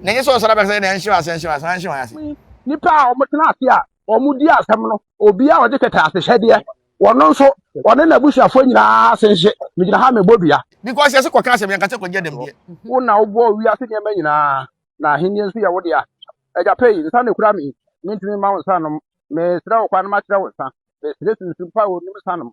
Na ɛnyɛ sɛ ɔsɔre abɛka sɛ na ɛnhyew ase ɛnhyew ase anhyew ase. Nnipa a wɔtena ase a wɔdi asɛm no, obi a ɔde kɛtɛ asehyɛdeɛ, wɔn nso wɔne n'abusuafoɔ nyinaa ase nhye. Megyina ha mebɔ dua. Because yɛse kɔka asɛm, yɛnka sɛ kɔgye adam deɛ. Wo na wobɔɔ wiase nneɛma nyinaa, na ahennie nso yɛ wo dea. Agya pɛ yi, nsa na ɛkura me yi, mentumi mma wo nsa nnom. Mesrɛ wo kwan ma kyerɛ wo nsa, mesrɛ sunsum pa a ɔnnim nsa nom.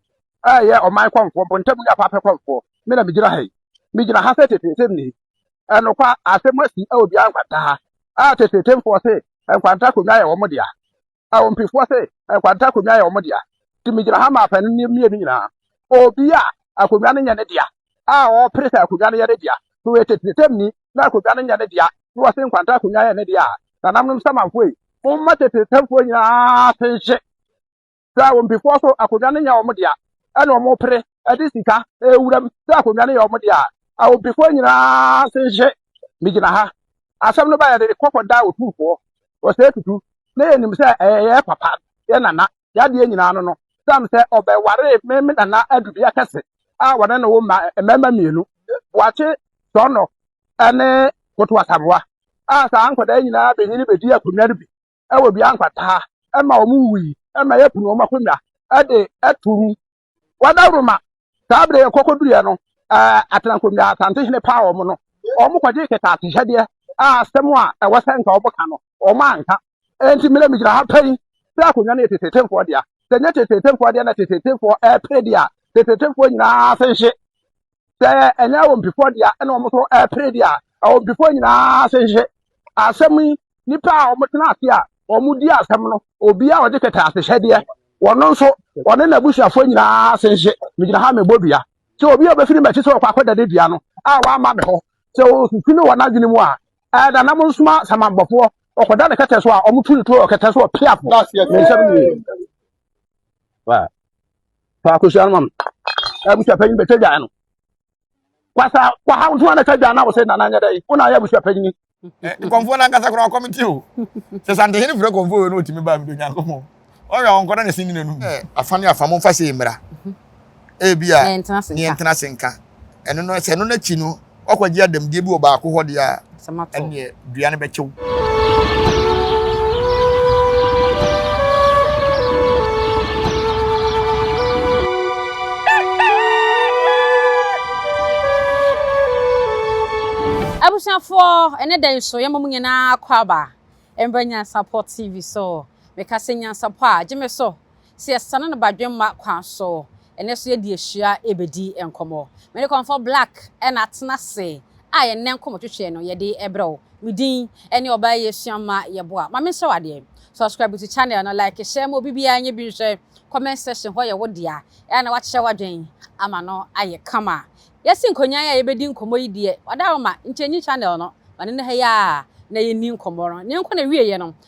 ɛyɛ ɔman kɔmfoɔ, mpɔntamu ne apaapɛ kɔmfoɔ, me na megyina ha yi. Megyina ha sɛ teteesɛm ni. Ɛnokwa, asɛm asi wɔ biara nkwanta ha. A teteetemfoɔ se nkwanta akonnwa yɛ wɔn dea. A ompefoɔ se nkwanta akonnwa yɛ wɔn dea. Nti megyina ha ma apanin no mmienu nyinaa. Obi a akonnwa no nyɛ ne dea, a ɔpere sɛ akonnwa no yɛ ne dea, sɛ ɔyɛ teteesɛm ni na akonnwa no nyɛ ne dea, na ɔse nkwanta akonnwa yɛ ne dea a, nananom Samanfoɔ yi, momma teteesɛmfoɔ nyinaa ase nhye. sɛ wɔn mpefoɔ so akonnwa no nyɛ wɔn dea, ɛna wɔpere de sika rewura mu sɛ akonnwa no yɛ wɔn dea a, wɔn mpefoɔ nyinaa se hye. Megyina ha. Asɛm no ba yɛde ne kɔkɔ da otumfoɔ, ɔsɛe tutu, na yɛnim sɛ ɛyɛ yɛn papa, yɛn nana, yɛn adeɛ nyinaa no no, siane sɛ ɔbɛwaree me me nana adubea kɛse a wɔne no wo mma mmarima mmienu, Boakye Sɔnnɔ ne Koto Asamoah, a saa nkwadaa nyinaa bɛnyini bɛdii akonnwa no bi. wɔ dua nkwataa ma wɔn wui ma yɛpene wɔn akonnwa de to mu. Wɔadaworo ma saa bere yɛ kɔkɔduruiɛ no atenankonnwa Asantehene paa wɔn no, wɔkɔgyee kɛtɛasehyɛdeɛ a asɛm a ɛwɔ sɛ nka wɔka no, wɔn anka. Enti mmerɛ megyina ha pɛ yi, sɛ akonnwa no yɛ teteetefoɔ dea, sɛ nyɛ teteetefoɔ dea na teteetefoɔ repere deɛ a, teteetefoɔ nyinaa ase nhye. sɛ ɛnyɛ awompifoɔ deɛ ɛna wɔn so ɛpere deɛ a awompifoɔ nyinaa se nhye asɛm yi nipa a wɔtena ase a wɔdi asɛm no obi a ɔde kɛtɛ asehyɛdeɛ wɔn nso wɔne n'abusuafoɔ nyinaa se nhye megyina ha mebɔ dua sɛ obi a ɔbɛfiri m'akyi sɛ ɔkɔ akɔda ne dua no a wamma me hɔ sɛ ɔsusu ne wɔn adwene mu a ɛda nam nsoma samambɔfoɔ ɔkɔda ne kɛtɛ so a wɔtu ne tuo wɔ kɛtɛ so ɔpeafoɔ ne nsɛm nie Wa. Fa akosua no ma me. Abusua panyin bɛtwa dwa no. Kwasa kwa ha nso na twa dwa na wo sɛ nana nyɛ dɛ. Wo na yɛ abusua panyin. Eh, nkɔmfoɔ no ankasa koraa ɔkɔm nti o sɛ santehene frɛ kɔmfoɔ wei no ɔtumi baa mede onyankopɔn ɔyɛ ɔnkɔda ne sini n'anum eh, afa ne afa momfa sei mmra ebi a ne yɛntena ase nka ɛno no sɛ ɛno no akyi no wakɔgye adamdie bi wɔ baako hɔ deɛ a ɛneɛ dua no bɛkyew abusuafoɔ ɛne dɛ nso yɛma mu nyinaa kɔ aba mbrɛ nyansapɔ tv so meka sɛ nyansapɔ a gye me so sɛ yɛsane no badwemma kwan so, ɛnnɛ so yɛde ahyia rebɛdi nkɔmmɔ. Me ne Kɔmfɔ Black na atena ase a yɛn nnɛ nkɔmmɔtwetweɛ no yɛde rebrɛ wo. Me din ne ɔbaa yi Asuamma Yeboah. Ma mensrɛ wo adeɛ, subscribe to channel no, like hyɛ ma obi biara nyɛ bi nhwɛ, comment section hɔ yɛ wo dea, ɛyɛ a na woakyerɛ w'adwen ama no ayɛ kama. Yɛasi nkonnyan a yɛbɛdi nkɔmmɔ yi deɛ, wada wo ma nkyɛnyi channel no, ma no nna ha yi ara na yɛnni nkɔmmɔ no. Ɛnneɛnko na ɛwieɛ no,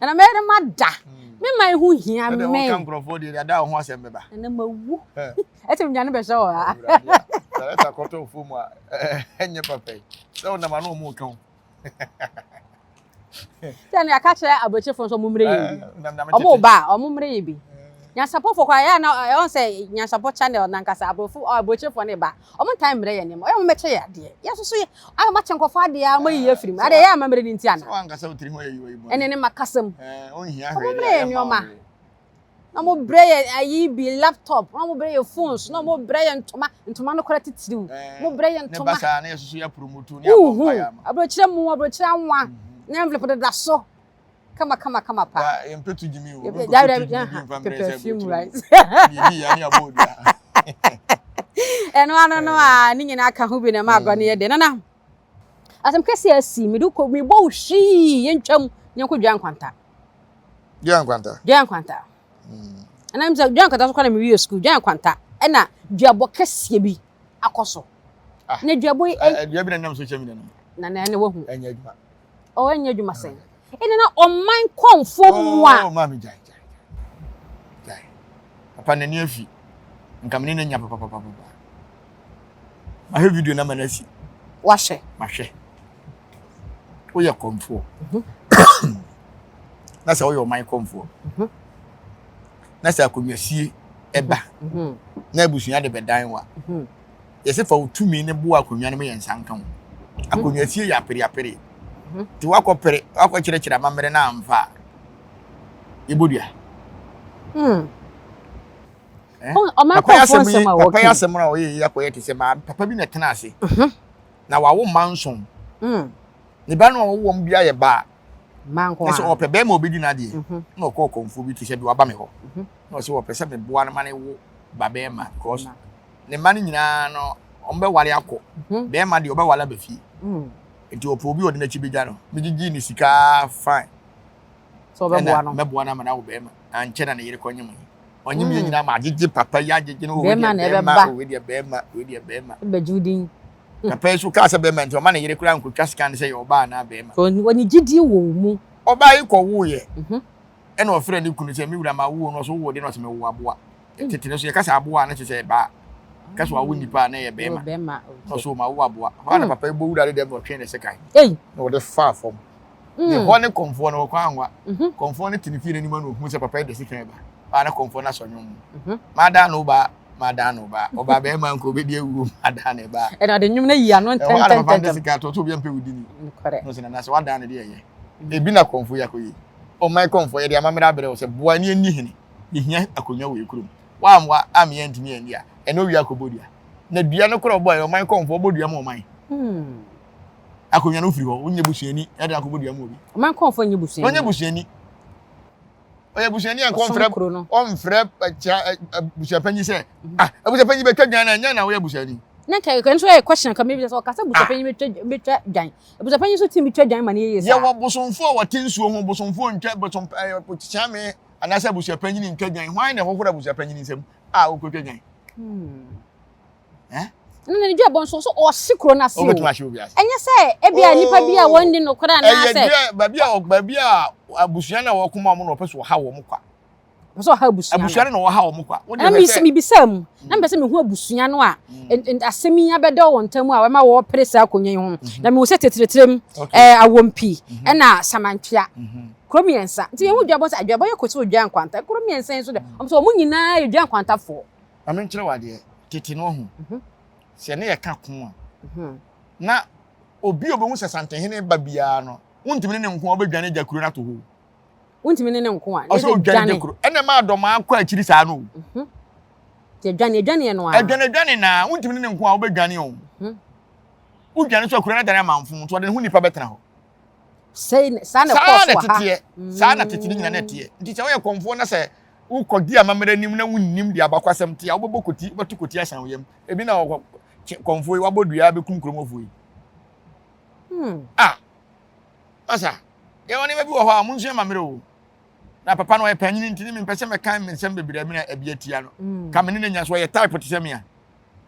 Na na mɛyɛ dɛ mada. Me man ho hia me. Ɛdɛ wɔka nkurɔfoɔ deɛ deɛ ada wo ho asɛm bɛba. Na na mawu. Ɛte me dwane bɛhyɛ wɔ ha. Awurade a. Sarɛta kɔtɔ ofuo mu a ɛnyɛ papa yi. Sɛ wonam ano ɔmo reka wo. Sɛ no yɛaka kyerɛ abrɛkyefo nso ɔmo mmerɛ yɛ bi. Ɔmo ba a ɔmo mmerɛ yɛ bi. Nyansapɔfoɔ kɔ a yɛ a na ɛwɔ sɛ nyansapɔ channel nankasa abrɔfo abrɛkyefo ne ba. Ɔmo ntaa mmrɛ yɛn nneɛma. Ɔyɛ a ɔmo mmɛkyɛ yɛn adeɛ. Yɛn nso so yɛ a moakyɛ nkorɔfoɔ adeɛ ara moayi yɛn afiri mu. Adɛɛ ɛyɛ amammerɛ no nti anaa? Sɛ wankasa wo tiri ho ayi wayi bɔne. Ɛne ne mma kasa mu. Ɛɛ onhia hwee Ɔmo mmrɛ deɛ yɛn ɛmma nneɛma. ɔwee. Na ɔmo brɛ yɛn ayi bi, laptop, na ɔmo brɛ yɛn phones, na ɔmo brɛ yɛn ntoma, ntoma no koraa titiriw. Ɛɛ Ɔmo brɛ yɛn ne ba ntoma. saa na yɛn nso so yɛ promoto ne abɔ Wonhu? mpaeɛ ama. Aburokyire mo, aburokyire anwa, ne envelope deda so. kama kama kama pa. Ya yɛn pɛtu gyimi o. Obi nkɔ pɛtu gyimi bi nfa mbrɛ sɛ aburokyire mu. Yɛ bi ya ne abɔ odua. Ɛno ano no a ne nyinaa ka ho bi na ɛma agorɔ no yɛ dɛ. Nana asɛm kɛseɛ asi mede kɔ mebɔ wo hwii yɛntwam yɛnkɔ dwa nkwanta. Dwa nkwanta. Dwa nkwanta. Ɛna mi sɛ dwa nkwanta so kɔ na mi wi yɛ sukuu dwa nkwanta ɛna duabɔ kɛseɛ bi. akɔ so ah. na dua bɔ yi. Eh, eh, dua bi na nam social media no. na na na wahu. ɛnyɛ adwuma. ɔwɔ oh, ɛnyɛ adwuma sɛn. ɛna na ɔman kɔnfo oh, mu a. ɔɔ oh, maame gyae gyae gyae papa n'ani afi nkamini ne nya papapapa mahwɛ video na ma no asi. wahwɛ. mahwɛ woyɛ kɔnfoɔ mhm. na sɛ woyɛ ɔman kɔnfoɔ. Mhm. na sɛ akonnwasie ɛba na abusua de bɛdan wa yɛsɛ fa wo tumi ne boa akonnwa no mu yɛ nsa nka ho akonnwasie yɛ apereapere nti wakɔpere wakɔkyerɛkyerɛ amammerɛ no amfa a yɛbɔdua papa yɛ asɛm yi papa yɛ asɛm a ɔyɛ yi akɔyɛ te sɛ maa papa bi na ɛtena ase na wawo mma nson ne ba no a ɔwɔ wɔn bi ayɛ baa Mma nko a. Ɛsɛ ɔpɛ bɛrima obedi n'adeɛ. Mhm. Na ɔkɔ ɔkɔmfoɔ bi to hyɛ de waba me hɔ. Mhm. Na ɔsɛ ɔpɛ sɛ meboa no ma ne wo ba bɛrima because ne mma no nyinaa no ɔmbɛwale akɔ. Mhm. Bɛrima deɛ ɔbɛwale aba fie. Mm. Nti ɔpɛ obi ɔde n'akyi bɛgya no. Megyegye ne sika fine. So ɔbɛboa no. Mɛboa no ama no awo bɛrima. Ankyɛ na ne yere kɔnye mo. Ɔnye me mm. nyinaa ma agyegye papa yi agyegye no. Bɛrima na ɛbɛba. Wei deɛ bɛrima, wei deɛ bɛrima. Bɛgye wo din. Na pɛɛ nso ɔkaa sɛ barima nti ɔmma ne yere koraa nkɔtwa sika no sɛ yɛ ɔbaa anaa barima. Wɔ ne gyidie wɔ wo mu. Ɔbaa yi kɔwoeɛ ɛna ɔfrɛɛ ne kunu sɛ, me wura mawo o, na ɔse wowoo deɛ na ɔse mewo aboa. Tete no nso yɛka sɛ aboa a na kyerɛ sɛ ɛbaa, yɛka sɛ wawo nipa a na ɛyɛ barima, na ɔse o mawo aboa. Hɔ ara na papa yi bɔ wura no dɛm na ɔtwee ne sekan na ɔde faa fam. Ne mm. hɔ ne kɔmfoɔ no wɔkɔ anwa. Mhm. Kɔmfoɔ no te ne fie n'anim na ohun sɛ papa yi de sekan ba. Baa na kɔmfoɔ no asɔ nwom mu. Mhm. Madaa no baa, madaa no baa. Ɔbaa bɛrima nka obedi awuo, madaa ne baa. Ɛna ɔde nwom no yi ano ntɛntɛntɛm. Ɛhɔ a na papa no de sekan ato so obi mpɛ wudi ni. Nokɔrɛ. N'o sɛ nana sɛ wadaa no de ɛyɛ. Mhm. Ebi na kɔmfoɔ yi akɔyɛ. Ɔman kɔmfoɔ yɛ de amammerɛ abrɛ wo sɛ boa ni ani hene. Yehia akonnwa wɔ ekurom. Wammoa ammeɛ ntumi anni a ɛna owia akɔbɔ dua. Na dua no korɔ bɔ ɛ ɔman kɔmfoɔ bɔ dua ma ɔman. Hmm. Akonnwa no wofiri hɔ, wonyɛ busuani, ɛde akɔ bodua mu obi. Ɔma nkɔmfo nyɛ busuani. Ɔnyɛ busuani. Ɔyɛ busuani a nkɔmfrɛ ɔmfrɛ kyia busuapanyin sɛ ah abusuapanyin bɛtwa dwan na nya na woyɛ busuani. Na nka ɛkɔ nso yɛ question ka mebisa sɛ ɔkasa busuapanyin bɛtwa bɛtwa dwan. Abusuapanyin so team twa dwan ma ne yeye saa. Yɛwɔ bosomfo a wɔte nsuo ho bosomfo ntwa bosom kyeame anaasɛ abusuapanyin ntwa dwan. Hwan na ɛhohoro abusuapanyin nsam a wokotwa dwan? Hmm. ne dua bɔ nso nso ɔhye kuro no ase o ɛnyɛ sɛ ebi a nipa bi a wɔn ni no koraa naa sɛ ɛyɛ baabi a baabi a abusua na wɔn kɔn mu a wɔn na ɔpɛ so ɔha wɔn kwa ɔpɛ so ɔha abusua no abusua no na ɔha wɔn kwa ɛna mi si mi bi sɛ mu na mi pɛ sɛ mi hu abusua no a asɛm yi abɛda wɔn ntam a wɔma wɔpere saa akonnwa yi ho na mi wɔ sɛ tetiretire mu ɛɛ awompi ɛna samantwea kuro mmiɛnsa nti yɛn ho dwa bɔ sɛ adwa bɔ yɛ kɔ sɛ odwa nkwanta kuro mmiɛnsa yi nso dɛ wɔn nso wɔn nyinaa yɛ dwa nkwantafoɔ. Ma menkyerɛ wo adeɛ, tete no ɔho, sɛ yɛne yɛka ko a, na obi a ɔbɛhu sɛ Santehene ba biara no, wontumi ne ne nko a wobɛdwane agya kuro no ato hɔ. Wontumi ne ne nko a, ɔsɛ odwane agya kuro. Ɛna ɛma adɔmaa kɔ akyiri saa no. Mhm. Nti adwane adwane no a. Adwane adwane na wontumi ne ne nko a wobɛdwane o. Mhm. Wodwane so akuro no adane amanfo nti ɔde ne ho nipa bɛtena hɔ. Sɛ saa na ɛkɔɔ so wɔ ha. Saa na teteɛ, saa na tete no nyina na ɛteɛ. Nti sɛ woyɛ kɔmfoɔ na sɛ wokɔdi amammerɛ anim na wonnim deɛ abakwasɛm te a, wobɛbɔ koti, wobɛto koti ahyɛn wo yam. Ebi na wɔkɔ kye kɔmfoɔ yi, wabɔ dua abɛkum kuromɔfoɔ yi. Hmm. A, ah, masa, yɛwɔ nneɛma bi wɔ hɔ a monsua amammerɛ o. Na papa no ɔyɛ panyini nti ne mempɛ sɛ mɛka me nsɛm bebree mena abi atia no. Hmm. Ka me ne n'anya so ɔyɛ type te sɛ me a.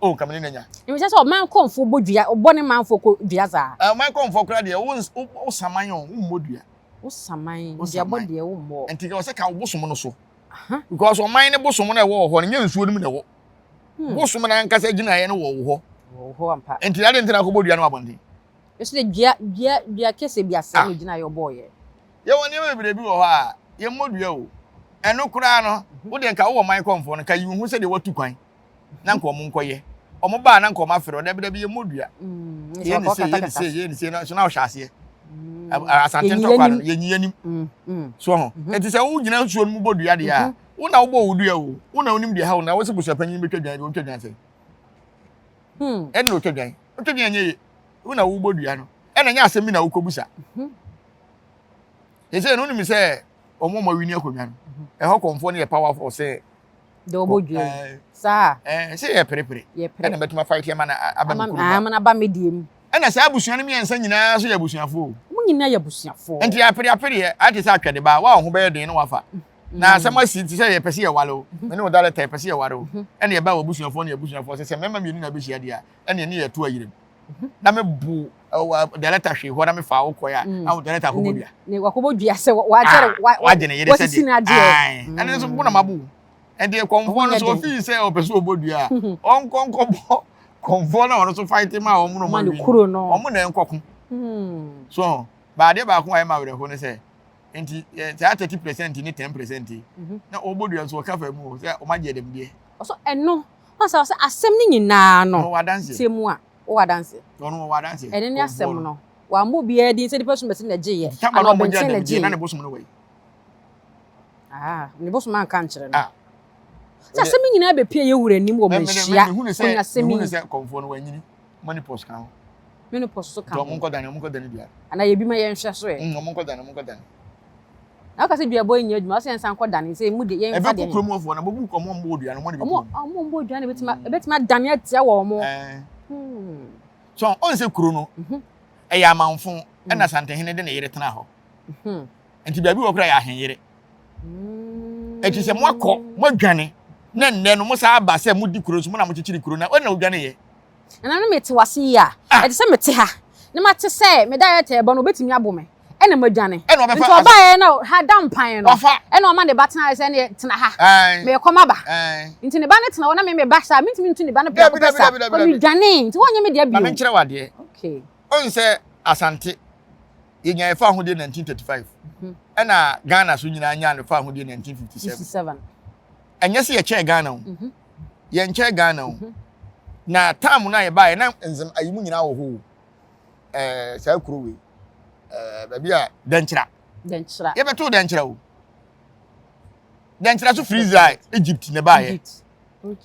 O, oh, ka me ne n'anya. Ɛmehyɛ sɛ ɔman kɔmfoɔ bɔ dua, ɔbɔ ne manfoɔ kɔ dua saa. Eh, ɔman kɔmfoɔ koraa deɛ, wosaman o, wommɔ dua. Wo saman, Wo mede abɔ saman. deɛ wommɔɔ. Nti ka ɔsɛ ka wo bosom no so. Aha. Because ɔman ne bosom no a ɛwɔ wɔ hɔ no, nyɛ nsuo no mu na ɛwɔ. Hmm. Bosom no ankasa gyinaeɛ no wɔ wo hɔ. Wɔ wo hɔ ampa. Nti adɛn nti na akɔbɔ dua no wɔ abɔnten? Ɛso dɛ dua, dua, dua kɛseɛ bi asɛe Ah. no gyinaeɛ ɔbɔɔeɛ. Yɛwɔ nneɛma bebree bi wɔ hɔ a, yɛmmɔ dua o. Ɛno koraa no, wo deɛ nka wowɔ man kɔmfoɔ no, nka yi wo ho sɛdeɛ woatu kwan. na nka wɔn nkɔyɛ wɔn baa na nka wɔn afɛrɛ ɔdɛbi dɛbi yɛ mɔdua yɛ ne se yɛ ne se yɛ ne se na so na ɔhyɛ aseɛ asante ntɔkwa no yɛ nyi yɛ nim so ho eti sɛ wo gyina nsuo no mu bɔ dua deɛ a wo na wo bɔ wo dua o wo na wo nim deɛ ha wo na wo si busa panyin bi twɛ dwan bi wo twɛ dwan sɛ ɛna o twɛ dwan o twɛ dwan yɛ yɛ wo na wo bɔ dua no ɛna nyɛ asɛm bi na wo kɔ busa yɛ sɛ no nim sɛ wɔn a wɔn awi ni akonnwa no ɛhɔ kɔnfoɔ no yɛ powerful sɛ. de ɔbɔ dua yi saa ɛɛ sɛ yɛ perepere ɛna bɛtuma fa eti ɛma na aba mi kuru mu ɛma na aba mi deɛ mu ɛna saa abusua no mmiɛnsa nyinaa so yɛ abusuafoɔ wɔn nyinaa yɛ abusuafoɔ nti apere apere yɛ ate sɛ atwɛde baa wa ɔho bɛyɛ den na wafa mm. na asɛm asi ti sɛ yɛ pɛsi yɛ wale o mene o dara tɛ pɛsi yɛ wale o ɛna yɛ ba wɔ abusuafoɔ ne abusuafoɔ sɛ sɛ mɛma mmienu na bɛhyia deɛ ɛna ɛne yɛ to ayire mu na me bu director hwee hɔ na me fa wo kɔɛ a na wo director akɔbɔ dua ne wakɔbɔ dua sɛ wagyere wagye ne yere sɛ de ɛne nso bo na mabu ɛnti kɔnfoɔ no so ofii sɛ ɔpɛ sɛ ɔbɔ dua a ɔnkɔ nkɔbɔ kɔnfoɔ no a ɔno nso fight ma wɔn no wɔn kuro no wɔn na nkɔko so baadeɛ baako a ɛma werɛ ho ne sɛ nti saa thirty percent ne ten percent na ɔbɔ dua nso ɔka fa mu sɛ ɔma gye dɛm deɛ ɔso ɛno Ɔn sɛ ɔsɛ asɛm no nyinaa no sɛ mu a ɔwɔ adanseɛ. Ɛno ne asɛm no. Wammɔ obiara din sɛ nipa som bɛse na gyeeɛ anaa ɔbɛnkyɛn na gyeeɛ. Aa ne bosom anka nkyerɛ no. Sɛ asɛm yi nyinaa bɛpie yɛ wura anim wɔ manhyia onyasɛm yi. Menopause so ka ho. Anaa yɛbi ma yɛnhwɛ so ɛ. Na ɔka sɛ duabɔ yi nyɛ adwuma, ɔsɛ yɛnsan kɔ dane sɛ mu de yɛn fa deɛ. Ɛbɛkɔ kurom wɔfoɔ na mobu kɔ mo mbɔ odua no mo de bi kurom. Ɔmo mbɔ odua no ebetumi adane atia wɔn mo. So ɔn sɛ kuro no ɛyɛ amanfo ɛna Asantehene de ne yere tena hɔ nti baabi wɔ kora yɛ ahenyere ɛti sɛ mo akɔ mo adwane na nnɛ no mo saa aba sɛ mo di kuro so mo na mo kyekyere kuro na ɔn na odwane yɛ Nananom, mete wo ase yie a ɛte sɛ mete ha na mate sɛ me director rebɔ no, ɔbɛtumi abo me ɛna madwane. Nti ɔbaeɛ na ha da mpan no, ɛna ɔma ne ba tenaeɛ sɛ ɛneɛ tena ha, merekɔ m'aba. Nti ne ba no tena hɔ na me meba saa, mentumi ntu ne ba no prɛko pɛ saa, but medwanee, nti wonyɛ me dea bio. Ma menkyerɛ wo adeɛ, wohu sɛ Asante, yɛnyaeɛ faa ahodie 1935, ɛna Ghana so nyinaa nyaa no faa ahodie 1957. Ɛnyɛ sɛ yɛkyɛɛ Ghana o. yɛnkyɛɛ Ghana o, na time no a yɛbaeɛ na nzem ayi mu nyinaa wɔ hɔ o. Ɛɛ saa kuro wei, ɛɛ baabi a Dɛnkyira. Dɛnkyira. Yɛbɛtoo Dɛnkyira o. Dɛnkyira so firi Israel, Egypt na ɛbaeɛ.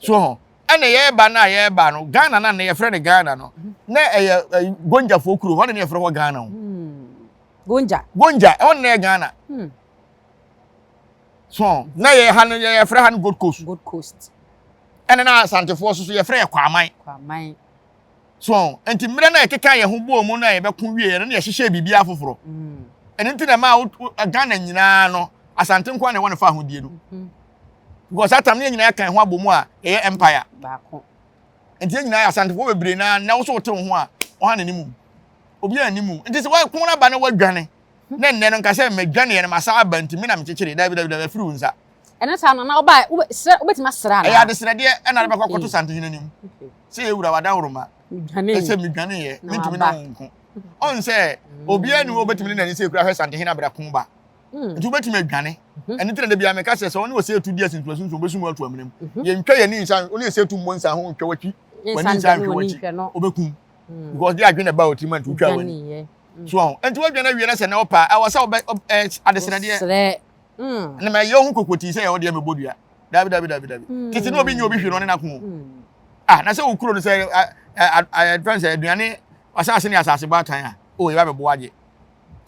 So ho. Ɛna yɛreba no a yɛreba no, Ghana no a na yɛfrɛ no Ghana no, mhm. na ɛyɛ eh, Gonjafoɔ kuro, hɔ na yɛfrɛ hɔ Ghana o. Hmm. Gonja. Gonja, ɛhɔ na yɛ Ghana. Hmm. So na yɛ ha no yɛfrɛ ha no Gold Coast. Gold Coast. Ɛna na Asantefoɔ nso so yɛfrɛ yɛ Kwaman. Kwaman. So nti mmerɛ na yɛkeka yɛn ho bɔɔ mu na yɛbɛko wie yɛ no na yɛhyehyɛ biribi afoforɔ. Mm. Ɛno nti na ɛma Ghana nyinaa no Asante nkoa na ɛwɔ ne fa ahodie no. Mm-hmm. Because that time ne yɛn nyinaa yɛka ho abɔ mu a ɛyɛ empire. Baako. Nti yɛn nyinaa Asantefoɔ bebree na na wo so wote wo ho a ɔha na ne mu. Obi a ne mu. Nti sɛ wɔko no aba na wɔadwane Na nnɛ no nka sɛ medwaneɛ no masan aba nti me na mekyekyeree, daabi daabi daabi afiri wo nsa. Ɛno saa no na ɔba a wobɛ srɛ wobɛtumi asrɛ anaa. Ɛyɛ adesrɛdeɛ ɛna de bɛkɔ akɔto santehene anim sɛ yɛ wura wadanworoma ɛsɛ medwaneeɛ mentumi ne wo nko ɔn sɛ obiara ni hɔ obɛtumi ne n'ani sɛ ekura hwɛ santehene abɛdako ba nti wobɛtumi adwane ɛno ti na da biara meka sɛ sɛ ɔne wɔ sɛ etu di asintu asintu obɛsum atu amanam yɛntwa yɛn ani nsa ɔne sɛ etu mmɔ nsa ho ntwa wakyi w'ani nsa nhwɛ wakyi obɛkum hmm. because de adwene ba wɔ tirim a nti wotwa w'ani hmm. so ɔho nti wodwene awie no sɛ na ɔpa ɛwɔ sɛ wobɛ adesrɛdeɛ hmm. na ma ɛyɛ ho kokotii sɛ yɛwɔ deɛ mɛbɔ dua dabi dabi dabi dabi tete na obi nyɛ obi hwɛ no ɔne n'ako ah na sɛ wokuro no sɛ ɛdfɛn sɛ aduane asase ne asase bɔ atan a o yɛ ba bɛ bo agye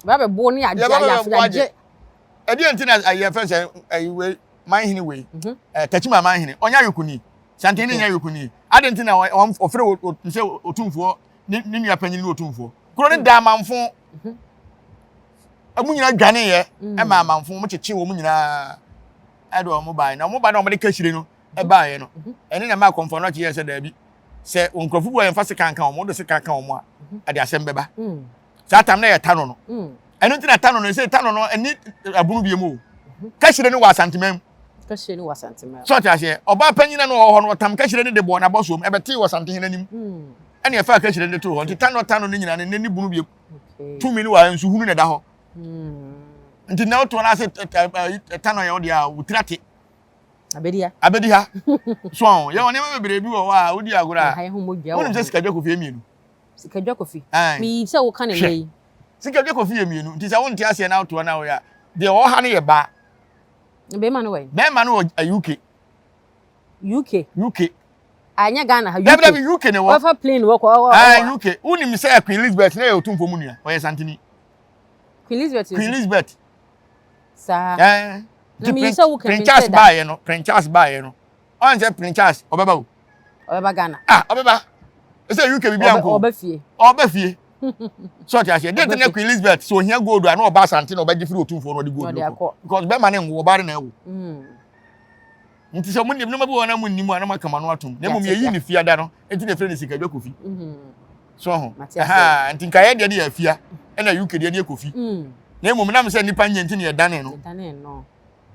ba bɛ bo ne agye ayɛ afei agye ɛdeɛ nti na ɛyɛ fɛn sɛ ɛyi wei man hene wei ɛɛ tɛkyima man hene ɔnyɛ ayɔkuni. Santen ne nyɛ yoko nie. Adɛn nti na wɔfrɛ sɛ otumfoɔ ne ne nua panyin ne otumfoɔ? Kuro no da amanfo. Mhm. Ɛmu nyinaa dwaneeɛ mm. ɛma amanfo wɔn kyekye wɔn nyinaa ɛde wɔn baeɛ na wɔn ba na wɔn de kahyire no ɛbaeɛ no mhm. ɛne na ɛma akɔmfo no ɔkye yɛ sɛ daabi sɛ nkurɔfo bi a yɛmfa sekan ka wɔn wɔn de sekan ka wɔn a ɛde asɛm bɛba. Mm. saa tam na yɛ tano no mm. ɛno nti na tano no ɛsɛ tano no ɛni ɛbunu bi mu o mhm. kɛhyire no wɔ asanteman mu kɛhyire no wɔ asanteman sɛ ɔte aseɛ ɔbaa panyina no wɔ hɔ no ɔtam kɛhyire no de bɔ n'abɔ soom ɛbɛte wɔ asantehene anim mm. ɛne ɛfa kɛhyire no de to hɔ nti tano tano no nyina ne ne ne bunu bi tumi no wɔ nsuhunu na ɛda hɔ mm. nti na wotoɔ no ase tano yɛ wo deɛ a wotira te abedi ha abedi ha so yɛ wɔn nneɛma bebree bi wɔ hɔ a wodi agorɔ a wonim sɛ sikadwa kofie mmienu Sikadwa Kofi. Ae. Meyii sɛ woka no nnɛ Hwɛ. yi. Sikadwa Kofi yɛ mmienu, nti sɛ wonte aseɛ na wotoa no a, woyɛ a, deɛ ɔwɔ ha no yɛ baa. Na barima no wɔ he? Barima no wɔ ɛ, UK. UK? UK. Ae, nyɛ Ghana ha, UK. Dabi, dabi, UK na ɛwɔ. Ɔbɛfa plane wɔ kɔ, ɔ, ɔ, ɔ. Ae, UK. Wonim sɛ Queen Lisbeth no yɛ Otumfoɔ mu nua? Ɔyɛ Santini. Queen Lisbeth yɛ Queen Otumfoɔ? Lisbeth. Saa. Ae. Na Nti meyii Prin, sɛ woka Prin me nsɛ Charles da. baeɛ no, Prin Charles baeɛ no, ɔn sɛ prince charles ɔbɛba o. ɔbɛba ghana. ah ɔbɛba ɛsɛ uk bibi anko ɔbɛ fie ɔbɛ fie sɛ ɔte aseɛ dɛn ti na queen elizabeth sɛ ohia gold a na ɔba asante na ɔbɛgye firi otumfoɔ na ɔde gold no kɔ because bɛrima ne nwo ɔbaa ne na ɛwo hmm. nti sɛ ɔmo nim nneɛma bi wɔ hɔ na mo nim a na mo aka ma no atom na mmom yɛyi ne fia da no nti na efiri ne sikadwa kofi hmm. so ho ɛhaa nti nka yɛ deɛ de yɛ afia ɛna uk deɛ de yɛ kofi hmm. na mmom nam sɛ nipa nyɛ nti na yɛ dane no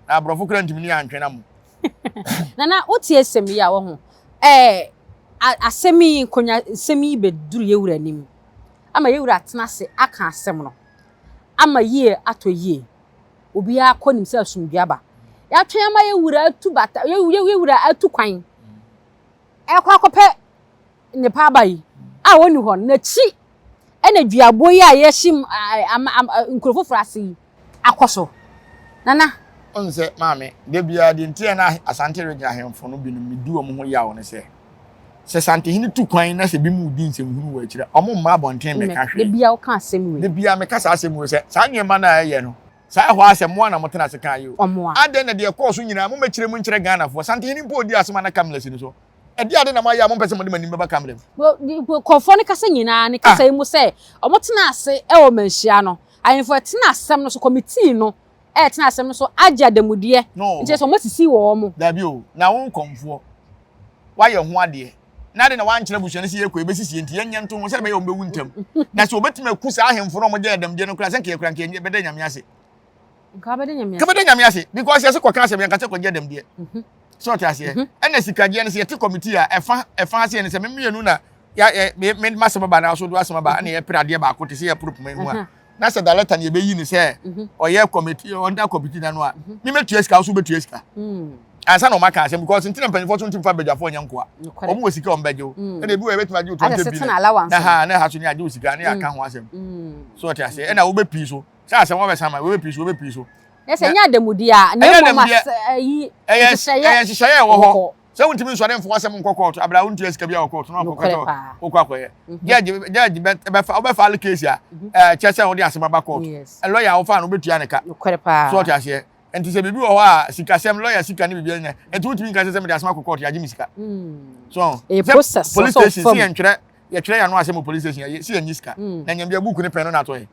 na aborɔfo kora ntumi ne antwe na mo. Nana wotie asɛm yi a wɔho ɛɛ asɛm yi nkonya nsɛm yi bɛduru yɛwura anim ama yɛwura atena ase aka asɛm no ama yie atɔ yie obiara kɔ nim sɛ asomdwe aba yɛatwɛn ama yɛwura atu bata yɛwura atu kwan ɛkɔ akɔpɛ nnepa aba yi a ɔnni hɔ no, n'akyi na duaboɔ yi a yɛahyem nkuro foforɔ ase yi akɔ so. Nana. Wohu sɛ, Maame, da biara deɛ nti a na Asante Region ahemfo no binom medi wɔn ho yaw ne sɛ, sɛ Santehene tu kwan na sɛ binom redi nsɛmhunu wɔ akyire a, wɔmma abɔnten mmɛka hwee. Da biara woka asɛm wei. Da biara meka saa asɛm wei sɛ, saa nneɛma no a ɛyɛ no, saa ɛhɔ ara sɛ moa na motena ase kae o, adɛn na deɛ ɛkɔɔ so nyinaa mommɛkyerɛ mu nkyerɛ Ghanafoɔ? Santehene mpo ɔdii asɛm a na Kamlas nni so. Ɛdeɛn ade na moayɛ a mompɛ sɛ mode mo anim bɛba Kamel mu? Nkurɔfoɔ no kasa nyinaa ne kasa yi mu sɛ wɔtenaa ase wɔ mmanhyia no, ahemfo a ɛtena asɛm no so, kɔmitii no a ɛtena asɛm no so agye adanmudeɛ, enti na sɛ wɔasisi wɔn. Dabi o, na wo nkɔmfoɔ, woayɛ ho adeɛ, na adɛn na woankyerɛ abusua no sɛ yɛrekɔ, yɛbɛsisi yɛn nti, yɛnyɛ nto ho, sɛdeɛ ɛbɛyɛ a wɔbɛwu ntɛm? Na sɛ wɔbɛtumi aku saa ahemfo no a wɔgyae adanmudeɛ no koraa a, sɛ anka yɛkura anka yɛbɛda anyame ase. nka wobɛda nyame ase nka wobɛda nyame ase because yɛse kɔka asɛm yɛnka sɛ kɔgye adam deɛ mhm. sɛ ɔte aseɛ mhm. ɛna sikagyeɛ no sɛ yɛte committee a ɛfa ɛfa aseɛ no sɛ memienu na masɛm ba na so do asɛm ba ɛna mhm. yɛpere adeɛ baako te sɛ yɛporo poma mu a na sɛ dalɛta ne yɛbɛyi ne sɛ ɔyɛ committee ɔnda committee na no a memɛtua sika wo so wobɛtua sika hmm. ansa na ɔma ka asɛm because ntina mpanyinfoɔ so ntim fa badwafoɔ nyɛ nkoa wɔn wɔ sika wɔn bɛgye wo hmm. ɛna ebi wɔ ɛbɛtumi agye wo twenty billion na ha na ha so ne agye wo sika ne aka ho asɛm hmm. so ɔte aseɛ ɛna wobɛ pii so Sɛ asɛm wɔbɛ san ma wɔbɛ piri so wɔbɛ piri so. Yɛ sɛ ɛnyɛ adamudeɛ a na ɛmɔ ma ɛyi nhyehyɛeɛ ɛyɛ nhyehyɛeɛ ɛwɔ hɔ sɛ wontumi nsɔre mfo asɛm nkɔ kɔɔto abira wontua sika bi a wɔ kɔɔto na ɔkɔkɔ tɔ wokɔ akɔyɛ judge judge bɛfa wobɛfa ale case a kyɛ sɛ wode asɛm aba kɔɔto lɔya a wofa no wobɛtua ne ka so ɔte aseɛ nti sɛ biribi wɔ hɔ a sikasɛm lɔya sika ne biribi nyɛ nti wotumi nka sɛ sɛ mede asɛm akɔ kɔɔto yɛagye me sika so police station si yɛntwerɛ yɛtwerɛ yɛn ano asɛm wɔ police station yɛ si yɛn nye sika mm. na nyɛm deɛ buuku ne pɛn no na atɔ yɛ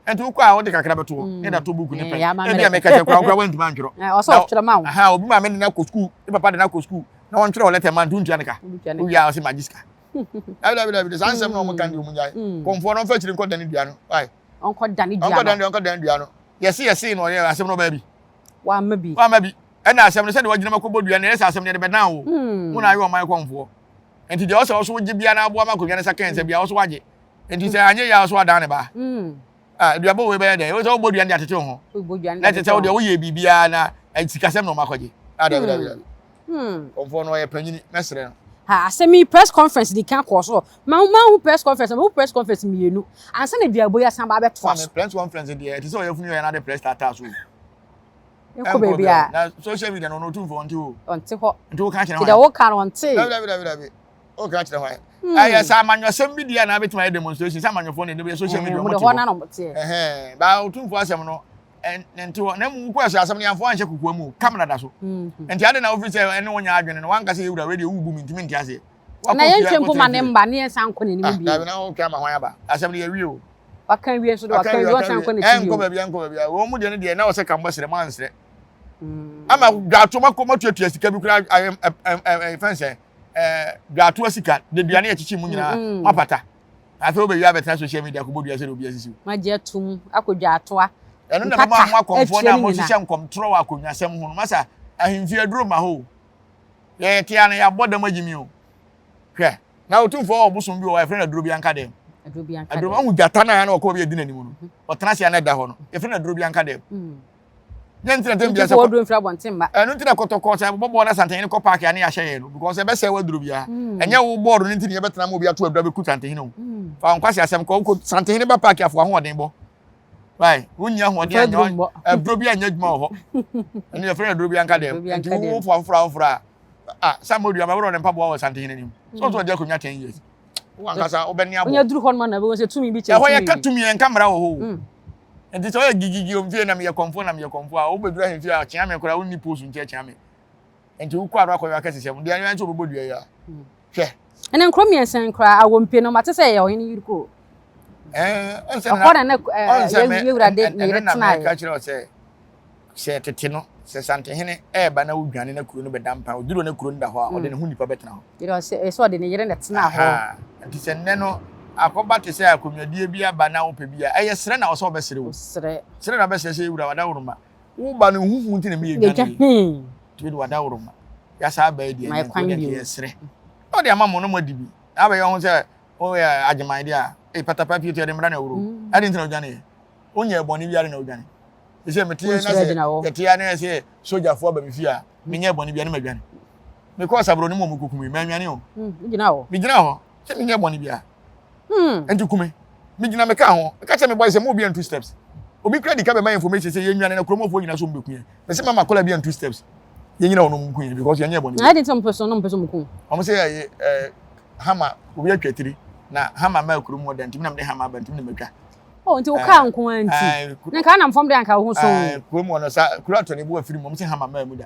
ɛnti wokɔ a wode kakra bɛtoɔ mm. ne da tɔ buuku ne pɛn ebi a mɛka kyɛ kora wokora wantuma ntwerɛ eh, obi ma me ne no akɔ sukuu ne papa de no akɔ sukuu na wɔntwerɛ wɔ lɛtɛ ma nto ntua ne ka wowie a ɔse magye sika dabidabidabi saa nsɛm na ɔmo ka ne ɔmo nyae mm. kɔmfoɔ no ɔmfa akyiri nkɔ dane dua no ɔnkɔ dane dua no ɔnkɔ dane dua ɔnkɔ dane dua no yɛse yɛse na ɔyɛ asɛm no ɔbaa bi wama bi wama bi ɛna asɛm no sɛdeɛ wagyina makɔbɔ dua no ɛyɛ sɛ asɛm no yɛde bɛdan wo wo na ayɛ ɔman kɔmfoɔ Enti deɛ ɔsɛ ɔso gye bia na aboa ma akonnwa no sa kɛnsɛ bia ɔso agye. Enti sɛ anyɛ yɛ a ɔso adan ne ba. Ah, aduabɔ wei bɛyɛ dɛn? Ɛwɔ sɛ wobɔ aduane de atete wo ho. Na ɛte sɛ wo deɛ woyɛ biribiara na sikasɛm na ɔmakɔgye. Ah, dabi dabi dabi. Kɔmfoɔ no ɔyɛ panyini, mɛsrɛ no. Ha, asɛm yi press conference di kan kɔɔ so. Mahu mahu press conference, mahu press conference mmienu. Ansa na aduabɔ yi asan ba abɛtoa so. Press conference deɛ ɛte sɛ ɔyafunu yɛ n'ade press taataa so. ɛkɔ baabi a na social media no ɔno ɔtumfo ɔnte hɔ ɔnte hɔ nti woka kyerɛ hɔ deɛ woka no ɔnte dabi dabi dabi dabi woka kyerɛ hɔ hmm. ɛyɛ sɛ amanyɔsɛm bi deɛ na abɛtumi ayɛ demonstration sɛ amanyɔfoɔ ne ɛdɛbɛyɛ social media ɔmo te hɔ baa ɔtumfo asɛm no ne nte hɔ na mu wokɔ ɛsɛ asɛm no yɛmfo anhyɛ kokoa mu kamera da so hmm. nti ade na wofiri sɛ ɛne wonya adwene no wankasɛ yɛwura wei deɛ wobu me ntimi nte aseɛ na yɛntwe mpo ma ne mma ne yɛnsan nkɔ n'anim ah, bio. na wotwa ama hwan aba asɛm no yɛwie o waka wie nso de waka wie wɔsan nkɔ n'akyi bio ɛnkɔ baabi ɛnkɔ baabi wɔn mu deɛ no deɛ na wɔsɛ kambɔ srɛ ma nsrɛ hmm. ama dwato ma kɔ ma tuatua sika bi kura fɛn sɛ dwato asika de dua ne yɛkyekye mu nyinaa hmm, hmm. ma pata afei wobɛwie abɛtena social media kɔbɔ dua sɛ de obi asisi ma gye atom akɔ dwatoa ɛno na bɛma ho akɔmfoɔ no a mohyehyɛ nkɔmtorɔ wɔ akonnwasɛm ho no masa ahemfie aduro ma hoo Yɛ yɛ tea no yɛ abɔ dɛm agyi mi o. Hwɛ. Na otumfoɔ wɔ ɔbosom bi wɔ hɔ a yɛfrɛ no aduro bi anka dɛm. Aduro bi anka dɛm. Ahu gyata no a na ɔkɔ bi adi n'anim no. Ɔtena ase a na ɛda hɔ no. Yɛfrɛ no aduro bi anka dɛm. Yɛn ntina tɛm biara sɛ. Ntufoɔ aduro mfiri abɔnten mma. Ɛno ntina kɔtɔkɔ sɛ ɛbobɔ bɔɔl na santanyin kɔ paaki a ne yɛahyɛ yɛn no because ɛbɛsɛe w'aduro biara. Ɛnyɛ wo bɔɔl no nti ne yɛbɛtena ma obi ato aduro abɛku santanyin o. Fa wo nkwasi asɛm kɔ. Wokɔ santanyin ba paaki afoa ho ɔden bɔ. wai wonni ahoɔden anyɛ aduro bi anyɛ adwuma wɔ hɔ ɛno yɛfrɛ no aduro bi anka dɛm nti wowo fo afoforo afoforo a ah sɛ mo dua mɛbɛrɛ ne mpaboa wɔ santen anim sɛ ɔsɛ ɔde akonnwa ten years wankasa wobɛne abɔ ɔnyɛ duru hɔ noma na ɛbɛwɔ sɛ tumi bi kyɛ ɛhɔ yɛka tumi yɛnka mmara wɔ hɔ o hmm. nti sɛ ɔyɛ gigigi omfie na meyɛ kɔmfo na meyɛ kɔmfo a wobɛdura hemfie a kyea me koraa wonni post nkyɛ kyea me Nti wokɔ ano akɔyɔ akɛsesɛm. Dua yɔ nti wɔbɛbɔ dua yi a. Hwɛ. Ɛnna nkuro mmiɛnsa yi koraa awompe no mate sɛ ɛyɛ ɔhene yiri kuro. Ɛhɔ na na yɛwura de ne yere tenaeɛ. Ɛka kyerɛ sɛ sɛ tete no sɛ santehene ɛreba na wodwane na kuro no bɛda mpa ɔduru na kuro no da hɔ a ɔde ne ho nipa bɛtena hɔ. Yɛrɛ sɛ ɔde ne yere na tena hɔ. Nti sɛ nnɛ no akɔba te sɛ akonnwadie bi aba na wopɛ bi a ɛyɛ serɛ na ɔsɛ ɔbɛsere wo. Serɛ na ɔbɛsere sɛ yɛwura wadaworoma Wo ba no huhu nti na mi yɛ dwane yi. Tumi de wada woro ma. Yasa aba adi ɛnyɛ nti wode nti yɛsrɛ. Na ɔde ama mo na mo adi bi. Na abɛyɛ ho sɛ woyɛ agyeman deɛ a. Ei patapa pie to yɛde mmra na awuro. Ɛde nti na odwane yɛ. Wonyɛ bɔne bi ade na wodwane. Me sɛ mete yɛ na sɛ yɛte yɛ na yɛ sɛ sogyafo aba me fie a menyɛ bɔne bi a na madwane. Mekɔɔ sabroni mu a ɔmo kɔku me manwane o. Me gyina hɔ. sɛ menyɛ bɔne biara hmm. nti kume megyina meka ho ɛka kyɛ me bɔe sɛ ma obi antu steps obi kura dika bɛma information sɛ yɛnwane na kuromɔfoɔ nyina so mbɛkuyɛ pɛ sɛ mama kɔla bi antu steps yɛnyina wɔnom nkuyɛ because yɛnyɛ bɔne na ɛde nti ɔmpɛ so no mpɛ so mukum ɔmo sɛ ɛyɛ eh, hama obi atwa tiri na hama ma kurom hɔ da ntimi nam de hama ba ntimi na matwa Oh, nti wokaa eh, nko a nti eh, na nka anam fam de anka wo ho so kurom hɔ no sa kuro atɔ ne bo afiri mu ɔmo sɛ hama maa mu da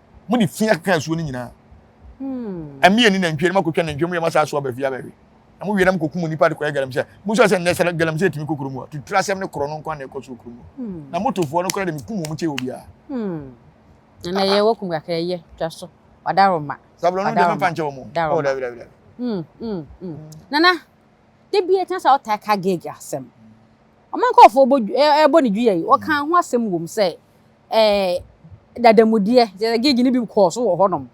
mo de fi akeka asuo no nyinaa hmm. ɛmi ɛni nantwie no makɔtwa nantwie mu yɛ masa aso aba fie aba awie na mo wie na mokɔkum nnipa de kɔyɛ galamsɛ mo sɛ sɛ nnɛ sɛ galamsɛ ɛtumi kɔ kurom a tuturu asɛm ne korɔ no nkwa na ɛkɔ so kurom hmm. na motofoɔ no kora de mekum wɔn kyɛ wɔ biara hmm. na yɛ wɔkum kakra yɛ twa so wadaroma sabulɔ no dɛmɛ pankyɛ wɔn ɔ dabi dabi dabi nana de bi ɛtena sɛ ɔtaa ka gege asɛm ɔma nkɔɔfoɔ ɛbɔ ne dua yi wɔka ho asɛm wɔ mu sɛ eh, dadamudeɛ, gyɛ gig no bi kɔɔ so wɔ hɔnom.